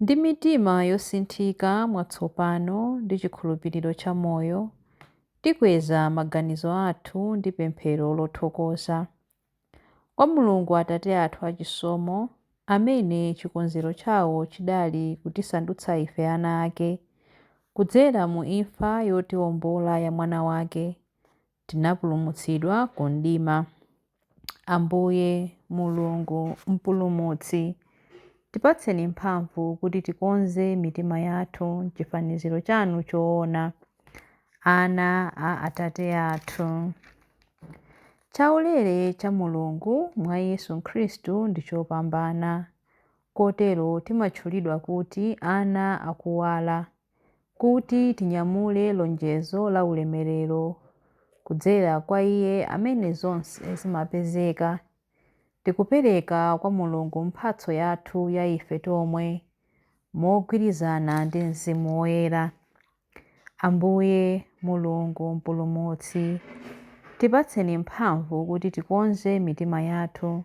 Ndi mitima yosinthika mwatsopano ndi chikhulupiriro cha moyo, tikweza maganizo athu ndi pemphero lothokoza kwa Mulungu Atate athu achisomo, amene chikonzero chawo chidali kutisandutsa ife ana ake, kudzera mu imfa yotiwombola ya Mwana wake, Tinapulumutsidwa ku mdima. Ambuye, Mulungu, Mpulumutsi, tipatseni mphamvu kuti tikonze mitima yathu m'chifaniziro chanu choona, ana a Atate athu. Chaulere cha Mulungu mwa Yesu Khristu ndi chopambana, kotero timatchulidwa kuti ana akuwala. kuti tinyamule lonjezo la ulemerero kudzera kwa Iye amene zonse zimapezeka. Tikupereka kwa Mulungu mphatso yathu ya ife tomwe mogwirizana ndi Mzimu Woyera. Ambuye, Mulungu, Mpulumutsi, tipatseni mphamvu kuti tikonze mitima yathu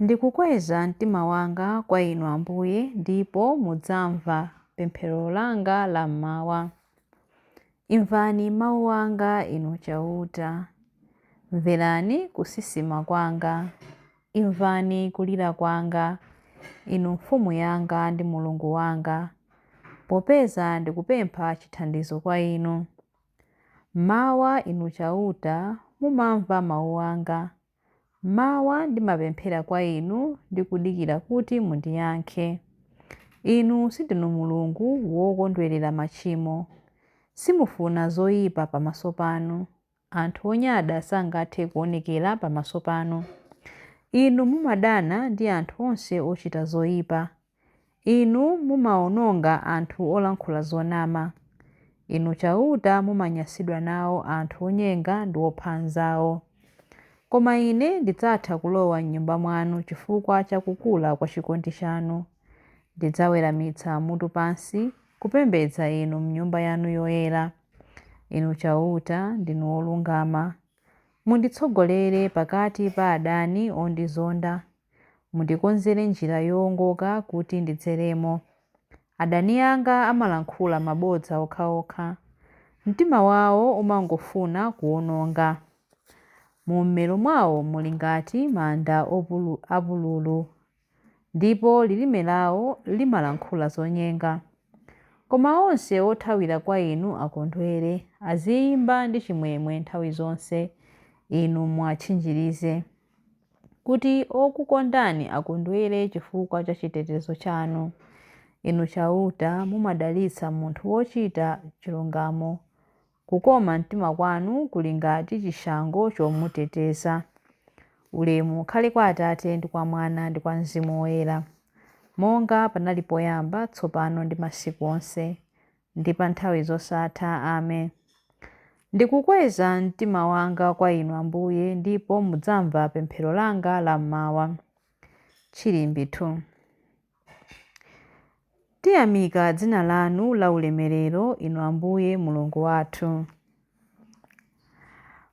Ndikukweza mtima wanga kwa Inu, Ambuye, ndipo mudzamva pemphero langa la m'mawa. Imvani mawu anga, Inu Chauta. Mverani kusisima kwanga. Imvani kulira kwanga, Inu Mfumu yanga ndi Mulungu wanga, popeza ndikupempha chithandizo kwa Inu. M'mawa, Inu Chauta, mumamva mawu anga. M'mawa ndimapemphera kwa Inu ndi kudikira kuti mundiyankhe. Inu sindinu Mulungu wokondwerera machimo. Simufuna zoyipa pamaso panu. Anthu onyada sangathe kuonekera pamaso panu. Inu mumadana ndi anthu onse ochita zoyipa. Inu mumawononga anthu olankhula zonama. Inu Chauta mumanyansidwa nawo anthu onyenga ndi opha anzawo. Koma ine ndidzatha kulowa m'Nyumba mwanu chifukwa cha kukula kwa chikondi chanu. Ndidzaweramitsa mutu pansi kupembedza Inu m'Nyumba yanu yoyera. Inu Chauta, ndinu wolungama. Munditsogolere pakati pa adani ondizonda. Mundikonzere njira yoongoka kuti ndidzeremo. Adani anga amalankhula mabodza okhaokha. Mtima wawo umangofuna kuwononga. Mu mmero mwawo muli ngati manda apululu, ndipo lilime lawo limalankhula zonyenga. Koma onse othawira kwa inu akondwere, aziimba ndi chimwemwe nthawi zonse, Inu muwatchinjirize. kuti okukondani akondwere chifukwa cha chitetezo chanu. Inu Chauta, mumadalitsa munthu wochita chilungamo. Kukoma mtima kwanu kuli ngati chishango chomuteteza. Ulemu ukhale kwa Atate ndi kwa Mwana ndi kwa Mzimu Woyera, monga panali poyamba, tsopano ndi masiku onse. ndi pa nthawi zosatha. Amen. Ndikukweza mtima wanga kwa Inu, Ambuye, ndipo mudzamva pemphero langa la m'mawa. Chilimbi 2. Tiyamika dzina lanu la ulemerero, Inu Ambuye Mulungu wathu.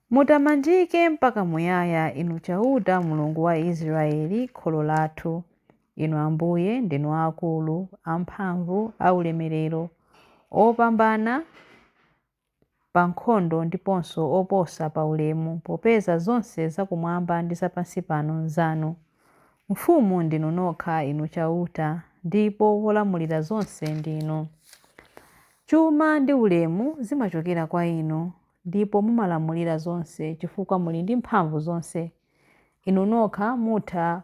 Mutamandike mpaka muyaya, Inu Chauta, Mulungu wa Israeli, kholo lathu. Inu Ambuye ndinu aakulu, amphamvu, aulemerero, opambana pa nkhondo ndiponso oposa pa ulemu, popeza zonse zakumwamba ndi zapansi pano nzanu. Mfumu ndinu nokha, Inu Chauta, ndipo wolamulira zonse ndinu. Chuma ndi ulemu zimachokera kwa Inu, ndipo mumalamulira zonse chifukwa muli ndi mphamvu zonse. Inu nokha mutha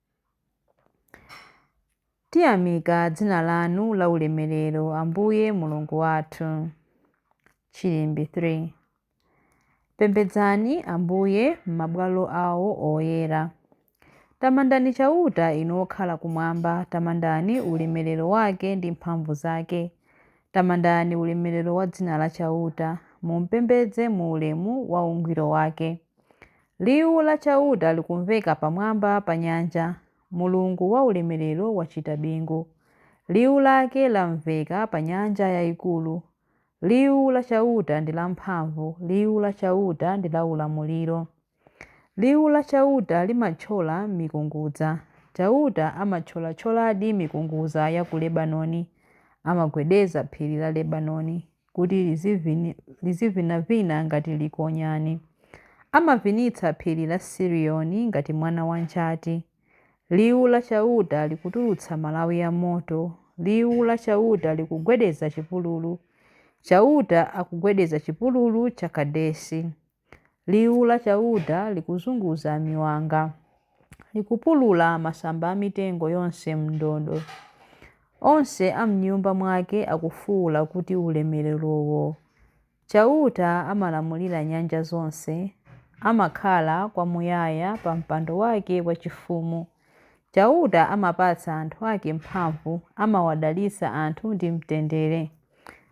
Tiyamika dzina lanu laulemerero, Ambuye Mulungu wathu. Chilimbi 3 Pembedzani Ambuye m'mabwalo awo oyera. Tamandani Chauta inu okhala kumwamba, tamandani ulemerero wake ndi mphamvu zake. Tamandani ulemerero wa dzina la Chauta, mumpembedze mu ulemu wa ungwiro wake. Liwu la Chauta likumveka pamwamba pa nyanja, Mulungu waulemerero wachita bingu. Liwu lake lamveka pa nyanja yaikulu. Liwu la Chauta ndi lamphamvu, liwu la Chauta ndi laulamuliro. Liwu la Chauta limathyola mikungudza. Chauta amathyolathyoladi mikungudza ya ku Lebanoni, amagwedeza phiri la Lebanoni. kuti lizivinavina ngati likonyani. Amavinitsa phiri la Sirioni ngati mwana wa njati. Liwu la Chauta likutulutsa malawi a moto, liwu la Chauta likugwedeza chipululu. Chauta akugwedeza chipululu cha Kadesi. Liwu la Chauta likuzunguza miwanga, likupulula masamba a mitengo yonse m'ndodo. Onse a m'nyumba mwake akufuula kuti, Ulemererowo! Chauta amalamulira nyanja zonse, amakhala kwamuyaya pa mpando wake wachifumu. Chauta amapatsa anthu ake mphamvu, amawadalitsa anthu ndi mtendere.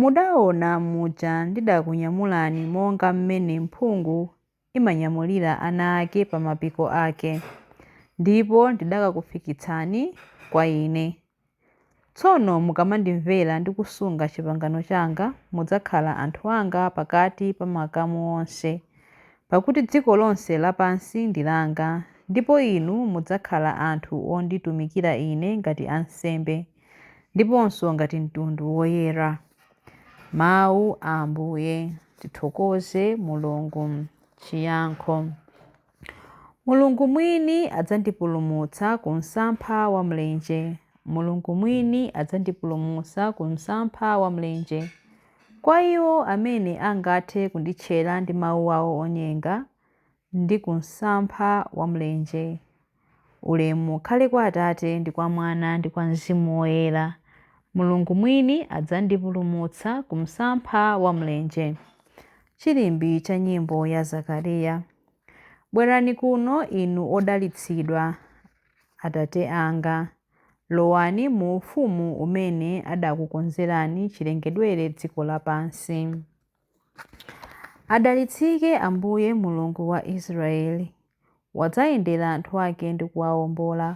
Mudaona muja ndidakunyamulani monga m'mene mphungu imanyamulira ana ake pa mapiko ake, ndipo ndidakakufikitsani kwa Ine. Tsono mukamandimvera ndi kusunga chipangano changa, mudzakhala anthu anga pakati pa makamu onse, pakuti dziko lonse lapansi ndi langa, ndipo inu mudzakhala anthu onditumikira Ine ngati ansembe. ndiponso ngati mtundu woyera. Mawu a Ambuye. Tithokoze Mulungu. Chiyankho. Mulungu mwini adzandipulumutsa ku msampha wa mlenje. Mulungu mwini adzandipulumutsa ku msampha wa mlenje. Kwa iwo amene angathe kunditchera ndi mawu awo onyenga, ndi ku msampha wa mlenje. Ulemu ukhale kwa Atate, ndi kwa Mwana, ndi kwa Mzimu Woyera. Mulungu mwini adzandipulumutsa ku msampha wa mlenje. Chilimbi cha nyimbo ya Zakariya. Bwerani kuno inu odalitsidwa, Atate anga. Lowani mu ufumu umene adakukonzerani chilengedwere dziko lapansi. Adalitsike Ambuye Mulungu wa Israeli, wadzayendera anthu ake ndi kuwaombola,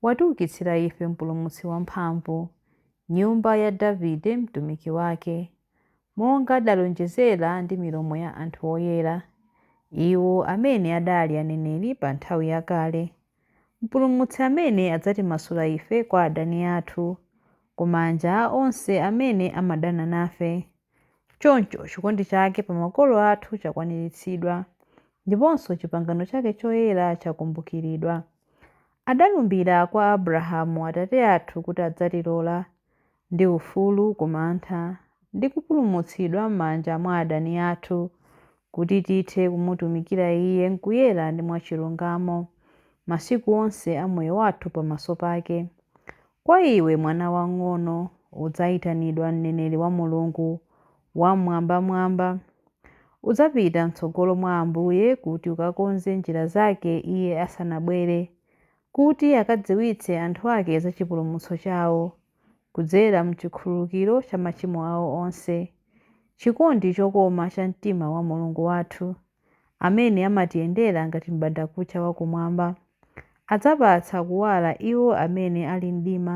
watiukitsira ife Mpulumutsi wamphamvu, nyumba ya Davide mtumiki wake, monga adalonjezera ndi milomo ya anthu oyera, iwo amene adali aneneri pa nthawi yakale. Mpulumutsi amene adzatimasula ife kwa adani athu, ku manja a onse amene amadana nafe. Choncho chikondi chake pa makolo athu chakwaniritsidwa, ndiponso chipangano chake choyera chakumbukiridwa. Adalumbira kwa Abrahamu atate athu kuti adzatilola, ndi ufulu ku mantha, ndi kupulumutsidwa m'manja mwa adani athu, kuti tithe kumutumikira Iye m'kuyera ndi mwachilungamo, masiku onse a moyo wathu pamaso pake. Kwa iwe, mwana wang'ono, udzaitanidwa mneneri wa Mulungu Wamwambamwamba. Udzapita m'tsogolo mwa Ambuye kuti ukakonze njira zake Iye asanabwere. kuti akadziwitse anthu ake za chipulumutso chawo, kudzera m'chikhululukiro cha machimo awo onse, chikondi chokoma cha mtima wa Mulungu wathu, amene amatiyendera ngati m'bandakucha wa kumwamba, adzapatsa kuwala iwo amene ali m'mdima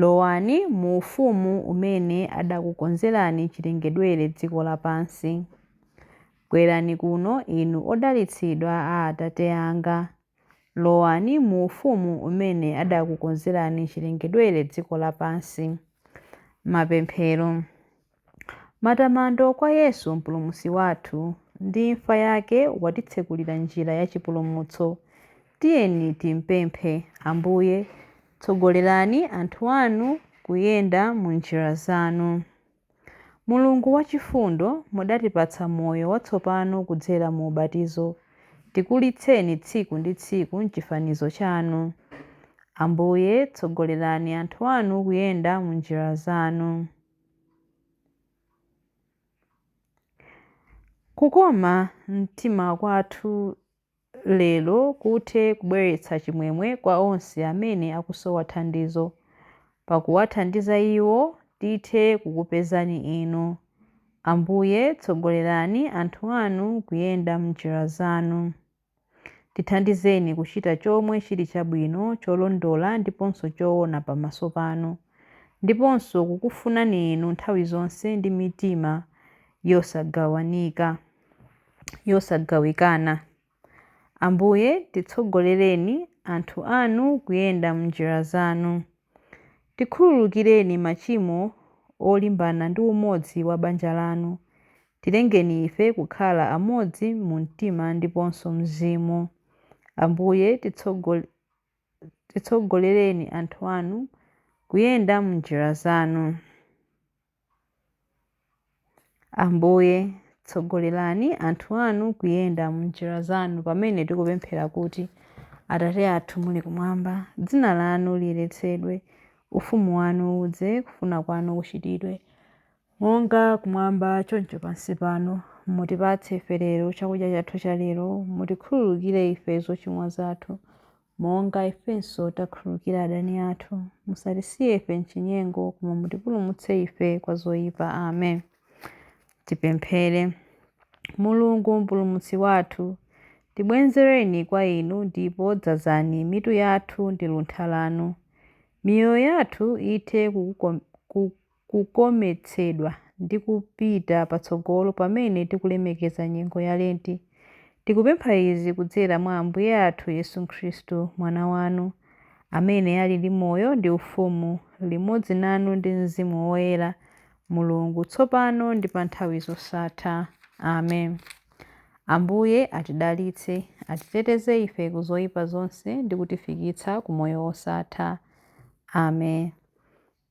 Lowani mu ufumu umene adakukonzerani chilengedwere dziko lapansi. Bwerani kuno, inu odalitsidwa a Atate anga. Lowani mu ufumu umene adakukonzerani chilengedwere dziko lapansi. Mapemphero. Matamando kwa Yesu Mpulumutsi wathu! Ndi imfa yake watitsekulira njira ya chipulumutso. Tiyeni timpemphe, Ambuye, tsogolerani anthu anu kuyenda mu njira zanu. Mulungu wachifundo, mudatipatsa moyo watsopano kudzera mu ubatizo. Tikulitseni tsiku ndi tsiku m'chifanizo chanu. Ambuye, tsogolerani anthu anu kuyenda mu njira zanu. Kukoma mtima kwathu lero kuthe kubweretsa chimwemwe kwa onse amene akusowa thandizo. Pakuwathandiza iwo, tithe kukupezani Inu. Ambuye, tsogolerani anthu anu kuyenda m'njira zanu. Tithandizeni kuchita chomwe chili chabwino, cholondola, ndiponso choona pamaso panu, ndiponso kukufunani inu nthawi zonse ndi mitima yosagawanika, yosagawikana. Ambuye, titsogolereni, anthu anu, kuyenda m'njira zanu. Tikhululukireni machimo olimbana ndi umodzi wa banja lanu, Tilengeni ife kukhala amodzi mu mtima ndiponso mzimu. Ambuye, titsogol, titsogolereni anthu anu kuyenda m'njira zanu. Ambuye, tsogolerani anthu anu kuyenda m'njira zanu pamene tikupemphera kuti, Atate athu muli kumwamba, dzina lanu liyeretsedwe, ufumu wanu udze, kufuna kwanu kuchitidwe, Monga kumwamba, choncho pansi pano, mutipatse ife lero chakudya chathu cha lero, mutikhululukire ife zochimwa zathu, monga ifenso takhululukira adani athu, musatisiye ife m'chinyengo, koma mutipulumutse ife kwa zoyipa. Amen. Tipemphere. Mulungu Mpulumutsi wathu, tibwenzereni kwa Inu ndipo dzazani mitu yathu ndi luntha lanu. Miyoyo yathu ithe kukukom, ku, kukometsedwa ndi kupita patsogolo pamene tikulemekeza nyengo ya Lenti. Tikupempha izi kudzera mwa Ambuye athu Yesu Khristu, Mwana wanu, amene ali ndi moyo ndi ufumu limodzi nanu ndi Mzimu Woyera, Mulungu, tsopano ndi pa nthawi zosatha. Amen. Ambuye atidalitse, atiteteze ife ku zoyipa zonse ndi kutifikitsa ku moyo wosatha. Amen.